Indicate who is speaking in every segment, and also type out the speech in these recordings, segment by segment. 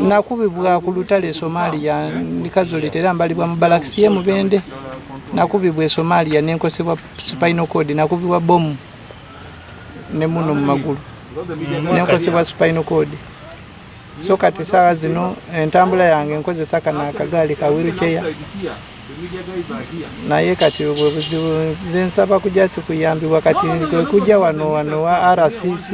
Speaker 1: nakubibwa ku lutale somalia nikazoleta era mbalibwa mu balakisi ye mubende nakubibwa e somalia nenkosebwa spinal cord nakubibwa bomu ne muno mu magulu nenkosebwa spinal cord so kati saawa zino entambula yange nkozesa kana akagaali ka wiruceya naye kati obwo buzibu nze nsaba kujja sikuyambibwa kati kwekujja wano wano wa rcc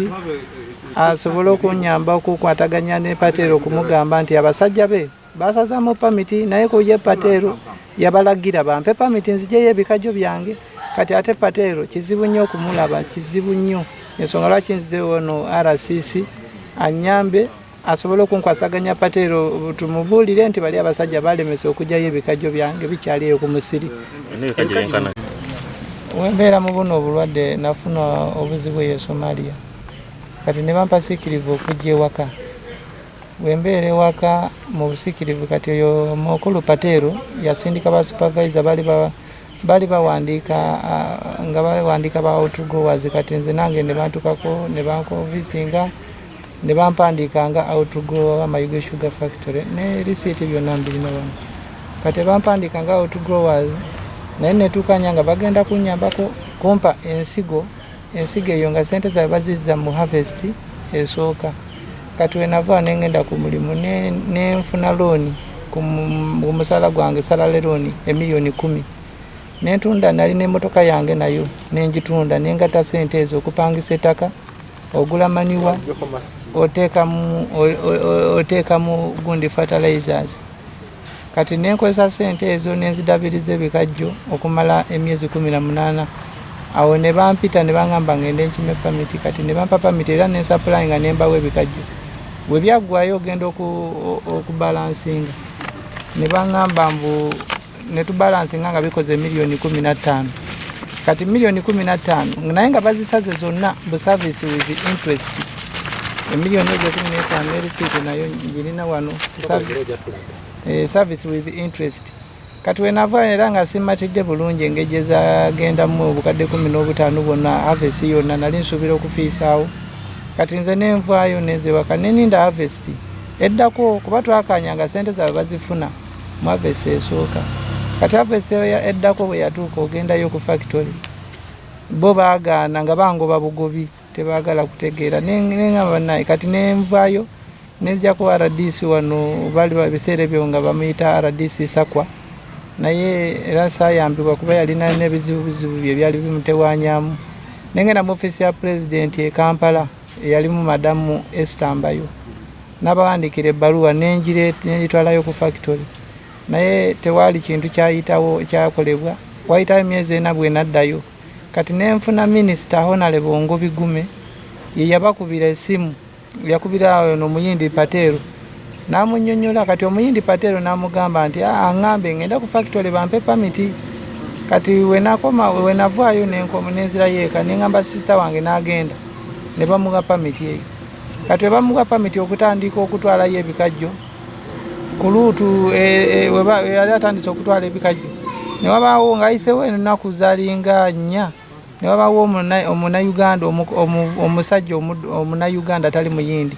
Speaker 1: asobole okunyamba okukwataganya ne pateero okumugamba nti abasajja be basazamu pamiti naye kuye pateero yabalagira bampe pamiti nzijeyo ebikajjo byange kati ate pateero kizibu nnyo okumulaba kizibu nnyo ensonga lwaki nzize wano rcc anyambe asobole okunkwasaganya pateero tumubuulire nti bali abasajja balemesa okugyayo ebikajjo byange bikyali eyo ku musiri wembeera mu buno obulwadde nafuna obuzibu eyo somalia kati ne bampa sikirivu okujja ewaka wembeera ewaka mu busikirivu kati oyo mukulu pateero yasindika ba supervisor bali ba bali bawandiika nga bawandiika bawotugowazi kati nze nange ne bantukako ne bankovisinga ne bampandiika nga outgrow wa mayuge sugar factory ne risiiti byonna mbirina wano kati bampandiika nga outgrowers naye netuukanya nga bagenda kunyambako kumpa ensigo ensigo eyo nga sente zabe bazizza mu harvest esooka kati wenava nengenda ku mulimu nenfuna ne looni ku musala gwange salale looni emiliyoni kumi nentunda nali nemotoka yange nayo nenjitunda nengata sente ezo okupangisa etaka ogula maniwa oteekamu gundi fertilizers kati nenkozesa sente ezo nenzidabiriza ebikajjo okumala emyezi kumi na munaana awo ne bampita ne bangamba ngende enkima epamiti kati ne bampa pamiti era nensapulayi nga nembawo ebikajjo bwe byaggwayo ogenda okubalansinga ne bangamba mbu ne tubalansinga nga bikoze miliyoni kumi na ttaano kati miliyoni kumi na ttaano naye nga bazisaze zonna bu service with interest emiliyoni ezo kumi n'etaano erisiiti nayo girina wano eh, service with interest kati wenava era nga simatidde bulungi engeri gyezagendamu obukadde kumi n'obutaano bwonna havesi yonna nali nsuubira okufiisaawo kati nze nenvaayo nenzewaka neninda havesti eddako kuba twakanya nga sente zaabwe bazifuna Mwa vesi esooka. Kati a vesi eyo eddako bwe yatuuka ogendayo ku fakitole, bo baagaana nga bangoba bugobi, tebaagala kutegeera. Ne ngamba bannaaye, kati ne nvaayo ne nzijako RDC wano, baali ebiseera ebyo nga bamuyita RDC Sakwa, naye era saayambibwa kuba yalina n'ebizibubizibu bye byali bimutewanyamu. Ne ngenda mu ofiisi ya pulezidenti e Kampala. eyalimu madamu Esther Mbayo nabawandiikira ebbaluwa nengitwalayo ku factory naye tewaali kintu kyayitawo ekyakolebwa wayitawo emyezi ena bwenaddayo kati nenfuna minisita honale bongo bigume yeyabakubira esimu yakubira ono muyindi pateero N'amunnyonnyola kati Omuyindi Patel n'amugamba nti, aa, angambe ng'enda ku fakitole bampe pamiti. Kati we nakoma, we navaayo ne nko, ne nzirayo eka ne ngamba sister wange n'agenda ne bamuwa pamiti eyo. Kati we bamuwa pamiti okutandiika okutwalayo ebikajjo ku luutu e, e, we ba, yali atandise okutwala ebikajjo ne wabaawo ng'ayisewo ennaku zalinga nnya ne wabaawo omunayuganda omusajja omunayuganda atali muyindi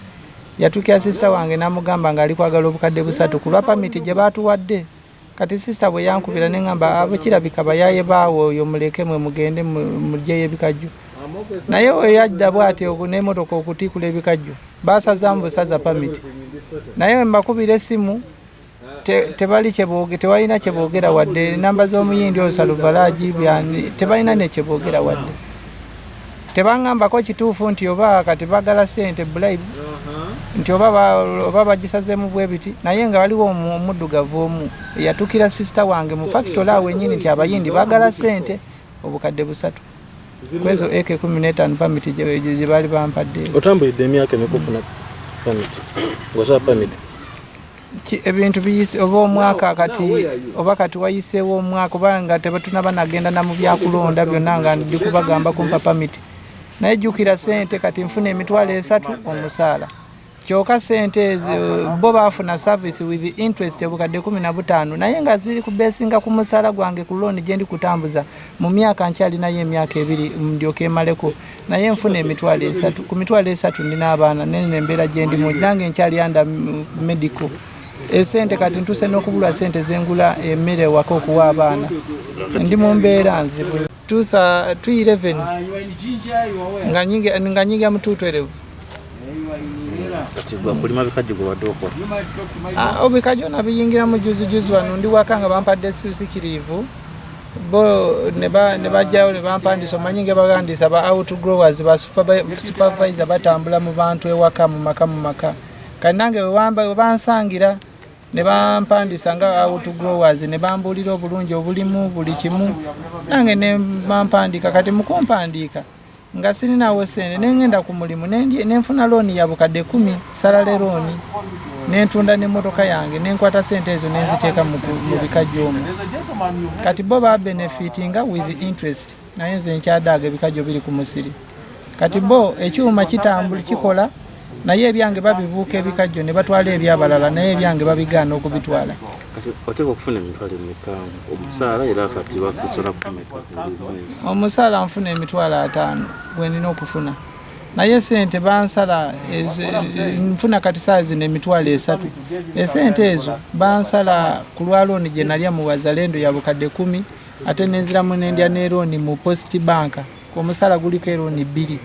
Speaker 1: Yatukira sisita wange n'amugamba ng'ali kwagala obukadde busatu ku lwa pamiti gye baatuwadde. Kati sisita bwe yankubira ne ŋŋamba abo kirabika bayaaye baawe oyo muleke mwe mugende muggyeyo ebikajjo. Naye we yajja bw'ati n'emmotoka okutiikula ebikajjo baasazaamu busaza pamiti. Naye we mbakubira essimu tebali kyeboge tebalina kyebogera wadde namba z'omuyindi oyo saluvalaji byani tebalina nekyebogera wadde tebangambako kituufu nti oba kati bagala sente bulayibu nti oba bagisazemu bwebiti naye nga waliwo omuddugavu omu eyatukira sisita wange mu fakitole awo enyini nti abayindi bagala sente obukadde busatu kwezo ak kumi n'etaano pamiti gyebaali bampadde otambulidde emyaka
Speaker 2: emikufuna pamiti ngosaba pamiti
Speaker 1: ebintu biyise oba omwaka kati oba kati wayiseewo omwaka oba nga tebatunaba nagenda na mu byakulonda byonna nga ndi kubagamba kumpa pamiti naye jjukira sente kati nfuna emitwalo esatu omusaala kyoka sente ezo bo baafuna service with interest obukadde kumi na butaano naye nga ziri kubesinga ku musaala gwange ku looni gyendi kutambuza mu myaka nkyalinayo emyaka ebiri ndyoka emaleko naye nfuna emitwalo esatu ku mitwalo esatu ndina abaana nene embeera gyendimu nange nkyali anda medical esente eh, kati ntuse n'okubulwa sente zengula emmere ewaka okuwa abaana ndi mu mbeera nzibu 211 nga nyingira mu 212 obikajona biyingira mu juzijuzi wano ndi waka nga bampadde sikiriivu bo ne bajjawo ne bampandisa omanyi nga bagandisa ba out growers ba supervisor batambula mu bantu ewaka mu maka mu maka kati nange webansangira ne bampandisa nga out growers ne bambuulira obulungi obulimu buli kimu nange ne bampandika kati mukumpandiika nga sirinawo sente nengenda ku mulimu nenfuna looni ya bukadde kumi salale looni nentunda n'emmotoka yange nenkwata sente ezo nenziteeka mu bikajjo omu kati bo ba benefitinga with interest naye nze nkyadaaga ebikajjo biri ku musiri kati bo ekyuma kitambuli kikola naye ebyange babibuuka ebikajjo ne batwala ebyabalala naye ebyange babigaana okubitwala
Speaker 2: omusaala
Speaker 1: nfuna emitwalo ataano gwenina okufuna naye sente bansala nfuna kati saa zino emitwalo esatu esente ezo bansala ku lwa looni gye nalya mu wazalendo ya bukadde kumi ate nenziramu nendya ne looni mu post banka omusala guliko erooni bbiri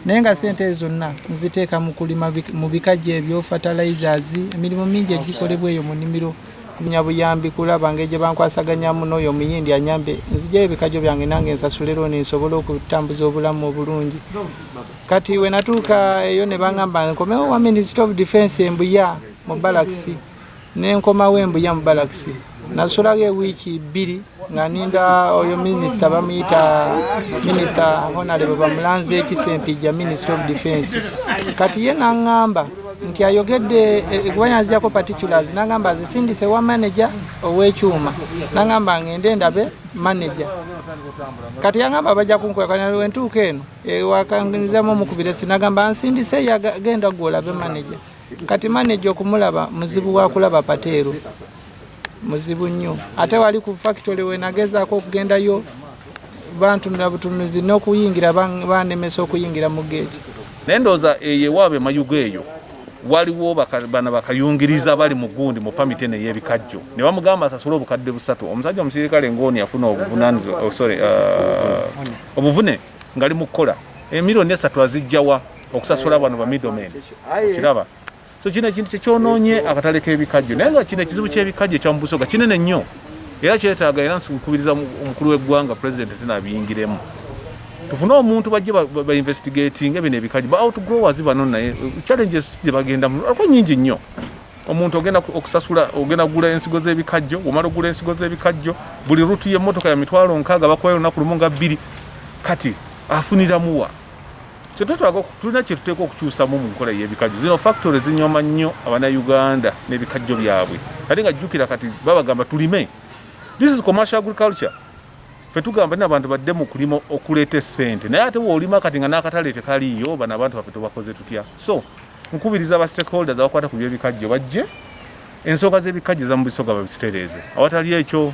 Speaker 1: naye nga sente ezo zonna nziteeka mu kulima mu bikajjo ebyo fertilizers emirimu mingi egikolebwa eyo mu nimiro kunya buyambi kulaba ngeri gye bankwasaganyamu n'oyo omuyindi anyambe nzijayo ebikajjo byange nange nsasule erooni nsobole okutambuza obulamu obulungi kati wenatuuka eyo ne bangamba nkomewo wa minisita of defense embuya mu balakisi ne nkomawo e Mbuya mu balakisi. Nasulawo ewiiki bbiri nga ninda oyo minisita bamuyita minisita Honalebo Bamulanze Kisempijja, minisita of defense. Kati ye n'aŋŋamba nti ayogedde eh, kuba yanzijako particulars n'aŋŋamba azisindise wa maneja ow'ekyuma n'aŋŋamba ng'ende ndabe maneja kati yangamba bajja kunkwekanawentuuka eno ewakangizamu eh, omukubira si nagamba nsindise yagenda gwolabe maneja kati maneja okumulaba muzibu wakulaba pateero muzibu nnyo ate wali ku fakitole wenagezaako okugendayo bantunula butunuzi n'okuyingira banemesa okuyingira mu geeti naye ndowooza
Speaker 3: eyo ewaabwe emayugo eyo waliwo bana bakayungiriza bali mu gundi mu pamiti eno ey'ebikajjo ne bamugamba asasule obukadde busatu omusajja omusirikale ng'oni yafuna obuvunanizibwa oh, sorry uh, obuvune ngali mu kukola emirioni esatu azijjawa okusasula bano ba middlemen okiraba so kino ekintu kyekyonoonye akatale k'ebikajjo naye nga kino ekizibu ky'ebikajjo ekya mubusoga kinene nnyo era kyetaaga era nkubiriza omukulu w'eggwanga president tena abiyingiremu tufune omuntu bajje bainvestigatinge bino ebikajjo ba outgrowers bano naye uh, challenges gye bagendamu ako nyingi nnyo omuntu ogenda okusasula ogenda kugula ensigo z'ebikajjo omala okugula ensigo z'ebikajjo buli rutu y'emmotoka ya mitwalo nkaaga bakubayo olunaku lumu nga bbiri kati afuniramuwa kyetwetaaga tulina kyetuteeka okukyusamu mu nkola y'ebikajjo zino factory zinyoma nnyo abanauganda n'ebikajjo byabwe ate nga jjukira kati babagamba tulime this is commercial agriculture fe tugamba nina abantu badde mu kulima okuleeta esente naye ate woolima kati nga n'akatale tekaliiyo bana abantu baffe tubakoze tutya so nkubiriza ba stakeholders abakwata ku byebikajjo bajje ensonga z'ebikajjo za mu bisoga babisitereeze awatali ekyo